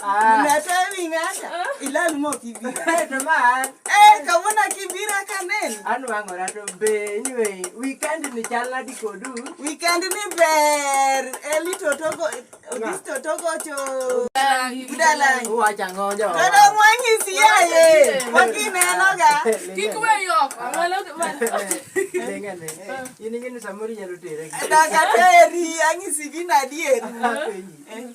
Nilete ming'ata. Ilal mo kibira. Teman. Eh, kawuono kibira ka neno. An wang'ora to be anyway, weekend ni chal nadi kodu? Weekend ni ber. Eli totogo, odis totogo cho. Budalangi. Wach ang'o jo? Todo mwanyisi yaye. Wakinenoga. Kik we yo. Amalo man. Lenga ne. Ini gini samori nyalo tere. Daga teri, anyisi gina dieri. Apenyi.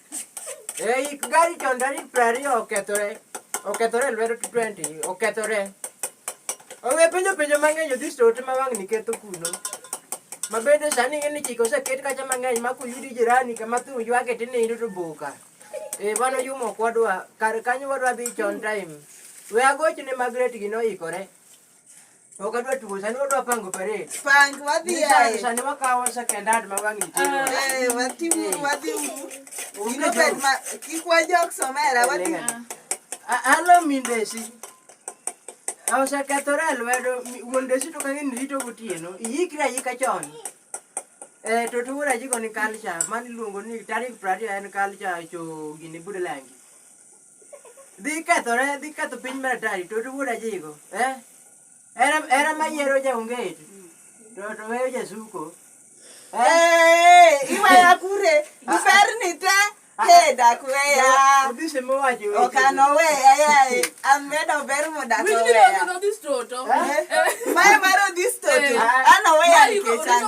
Ei, gari chon tarik piero ariyo okethore. Okethore e lwedo 20, okethore. Onge penjo penjo mang'eny odhi sote ma wang'ni ketho kuno. Ma bende sani ing'e ni chike oseket kacha mang'eny ma kuyudi jirani kama thum ywake tinindo to boka. Eh, mano yumo kwadwa, kar kanyo wadwa dhi chon time. We agochne Margaret gino oikore. Wakadwa tuko sani wadwa pango parade. Pango wadhi aye. Sani wakawa second hand mawangi tino. Ah. Eh wadhi uru wadhi uru. Ino bed ma kikwa jok somera wadhi. Alo mindesi. Osekethore lwedo wuon desi to kang'e ni rito gotieno. Iyikri ayika chon. Eh to tuwura jiko ni culture mani luongo ni tarik prariyo en culture cho gini budalangi. dhi kethore dhi ketho piny mar atari to wuod ajigo eh? era era mayiero jaonget to to weyo jasuko eh? iwaya kure iberni te dakweya okanoweya yae amedo ber modakoweya mae mar odhistoto anoweya nikech ano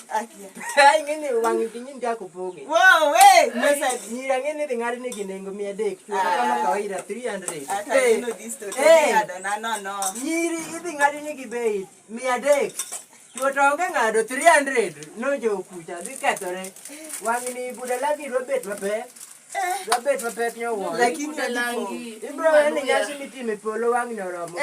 ing'eni wang' piny ndia kupoge nyira ng'eni dhi ng'ad nigi nengo mia adek chuoakama ah. kawaida 300 nyiri idhi ng'ad nigi bei mia adek chuo to onge ng'ado 300 nojo kucha dhi kethore wang'ni buda lagi dwa bet mapek dwa bet mapek nyowuon ibro en nyasi mitime polo wang'ni oromo